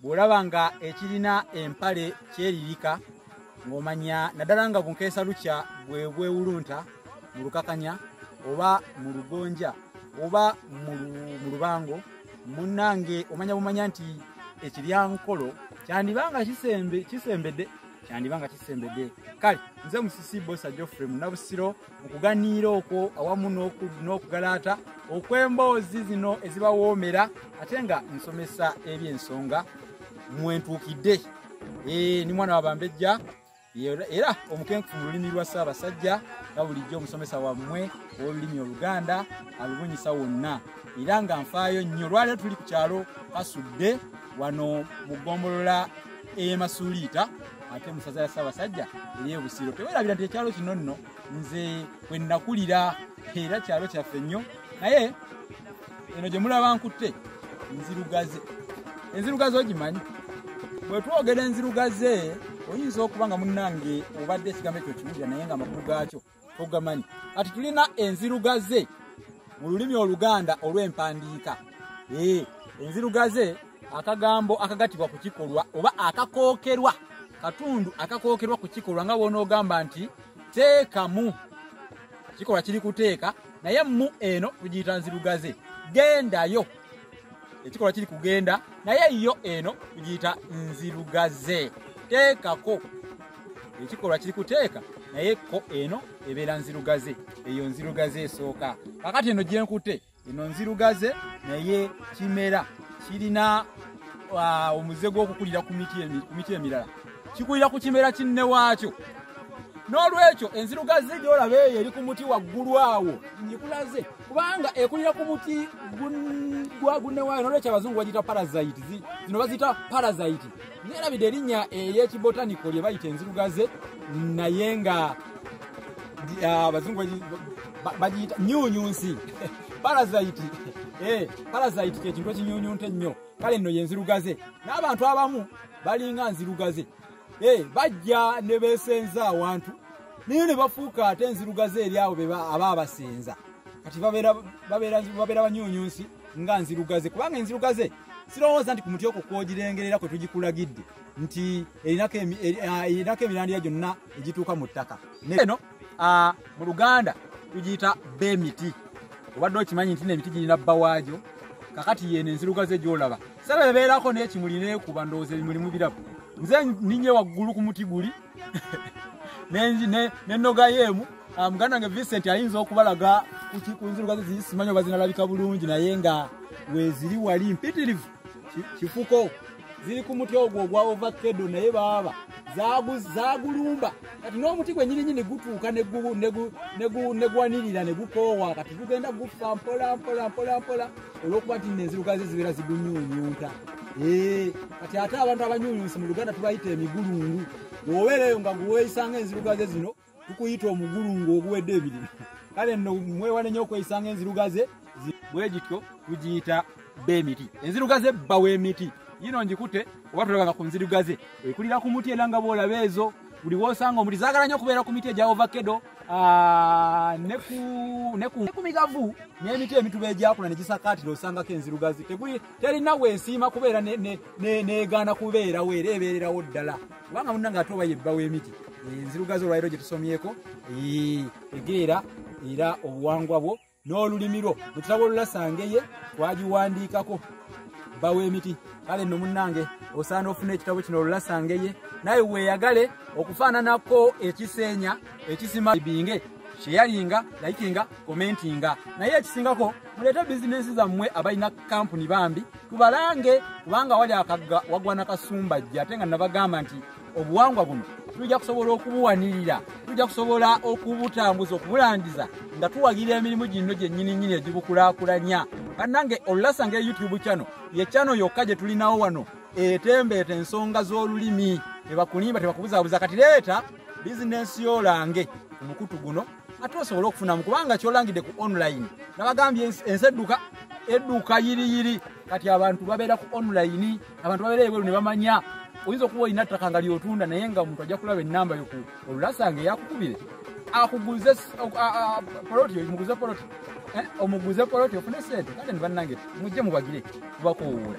bw'olaba nga ekirina empale kyeririka ng'omanya naddala nga bunkeesa lukya bwe bwewulunta mu lukakanya oba mu lugonja oba mu lubango munnange omanya bumanya nti ekiryankolo kyandiba nga kisembedde kyandiba nga kisembedde kale nze musisi bosa geoffrey munabusiro mu kuganiira okwo awamu n'okugalaata okw'emboozi zino ezibawoomera ate nga nsomesa eby'ensonga mwentuukidde eh, ni mwana wabambejja era omukenkufu mu lulimi lwa ssaabasajja nga bulijjo omusomesa wammwe ow'olulimi oluganda alubunyisa wonna era nga nfaayo nnyo lwaliro tuli ku kyalo kasudde wano mu ggombolola ey'emasuuliita ate musaza ya ssaabasajja ey'ebusiro tewerabira nti ekyalo kino nno nze bwe nnakulira era kyalo kyaffe nnyo naye eno gye mulaba nkutte nzirugaze enzirugaze ogimanyi bwe twogera enzirugaze oyinza okuba nga munnange obadde ekigambo ekyo kiwulira naye nga amakulu gaakyo ogamanyi kati tulina enzirugaze mu lulimi oluganda olw'empandiika ee enzirugaze akagambo akagatibwa ku kikolwa oba akakookerwa katundu akakookerwa ku kikolwa nga bwonoogamba nti teekamu kikolwa kiri kuteeka naye mu eno tugiyita nzirugaze gendayo ekikolwa kiri kugenda naye yo eno tugiyita nzirugaze teekako ekikolwa kiri kuteeka naye ko eno ebeera nzirugaze eyo nzirugaze esooka kakati eno gyenkute eno nzirugaze naye kimera kirina uh, omuze gw'okukulira ku miti emirala kikulira ku kimera kinne waakyo n'olwekyo enzirugaze gyolaba eyo eri ku muti waggulu awo ngikulaze kubanga ekulira ku muti gwagunewaayo nolwekyo abazungu bagita parasite zino bazita parasite nerabidde erinnya eyekibotanico lye bayita enzirugaze naye nga ah, abazungu bagiyita nyunyunsi parasite eh, parasite kyekintu ekinyunyunta ennyo kale nno yenzirugaze n'abantu abamu balinga nzirugaze eh, bajja ne beesenza awantu naye ne bafuuka ate enzirugaze eri abo aba abasenza kati babeera banyunyunsi nga nzirugaze kubanga enzirugaze sirowooza nti ku muti okwo kwogirengerera kwe tugikulagidde nti erinako emirandiya gyonna egituuka mu ttaka Ah, mu luganda tugiyita bba emiti obadde okimanyi nti nemiti girina bba waagyo kakati yeno enzirugaze gyolaba sala ebeerako nekimuli nekuba ndowooza ebimuli mubirabu nze ninye waggulu ku muti guli nenogayo emu ah, muganda nge vincent ayinza okubalaga ku nzirugaze zisimanyi oba zinalabika bulungi naye nga weziri wali mpitirivu kifuko ziri ku muti ogwo ogwa ovakedo naye baaba zagulumba kati n'omuti gwenyininyini gutuuka negwanirira negukoowa kati gugenda gufa mpola mpola mpola mpola olwokuba nti nenzirugazi zibeera zigunyunyunta eh, kati ate abantu abanyunyunsi mu luganda tubayita emigulungu obeereyo nga guweeyisanga enzirugaze zino kukuyita omugulu ng'oguwedde ebirina kale nno mwewale nnyo okweyisanga enzirugaze bwegityo tugiyita bemiti enzirugaze bbawa emiti yino ngikute oba tulabanga ku nzirugaze ekulira ku muti era nga bwolaba ezo buli wosanga omuti zagala nnyo okubeera ku miti egya ovakedo ah, nekumigavu n'emiti emituba egyakula negisakaatira osangako enzirugazi terina wensiima kubeera negaana kubeerawo era ebeererawo ddala kubanga munna nga ate oba yebba w'emiti enzirugazi olwaliro gye tusomyeko egeera era obuwangwa bwo n'olulimi lwo mu kitabo olulasangeye twagiwandiikako bba w'emiti kale nno munnange osaana ofuna ekitabo kino olulasangeye naye weeyagale okufaananako ekiseenya ekisima binge sheyalinga likinga komentinga naye ekisingako muleete bizinensi zammwe abalina kampuni bambi tubalange kubanga wali akagga wagwa nakasumba jje ate nga nabagamba nti obuwangwa buno tujja kusobola okubuwanirira tujja kusobola okubutambuza okubulandiza nga tuwagira emirimu ginno gyennyini nnyini egibukulakulanya bannange olulasa nga eyoutube kyano ye kyano yokka gye tulinawo wano etembeeta ensonga z'olulimi tebakulimba tebakubuzabuza kati leeta bizinensi yolange omukutu guno ate osobola okufunamu kubanga kyolangidde ku online nabagambye ensi edduka edduka yiriyiri kati abantu babeera ku online abantu babeera ebweru ne bamanya oyinza okuba olina ttaka nga lyotunda naye nga omuntu ajja kulaba enamba yo ku olulasanga eyakukubire akuguze poloti omuguze poloti eh, omuguze poloti ofune sente kale ne bannange mujje mubagire kubakowuula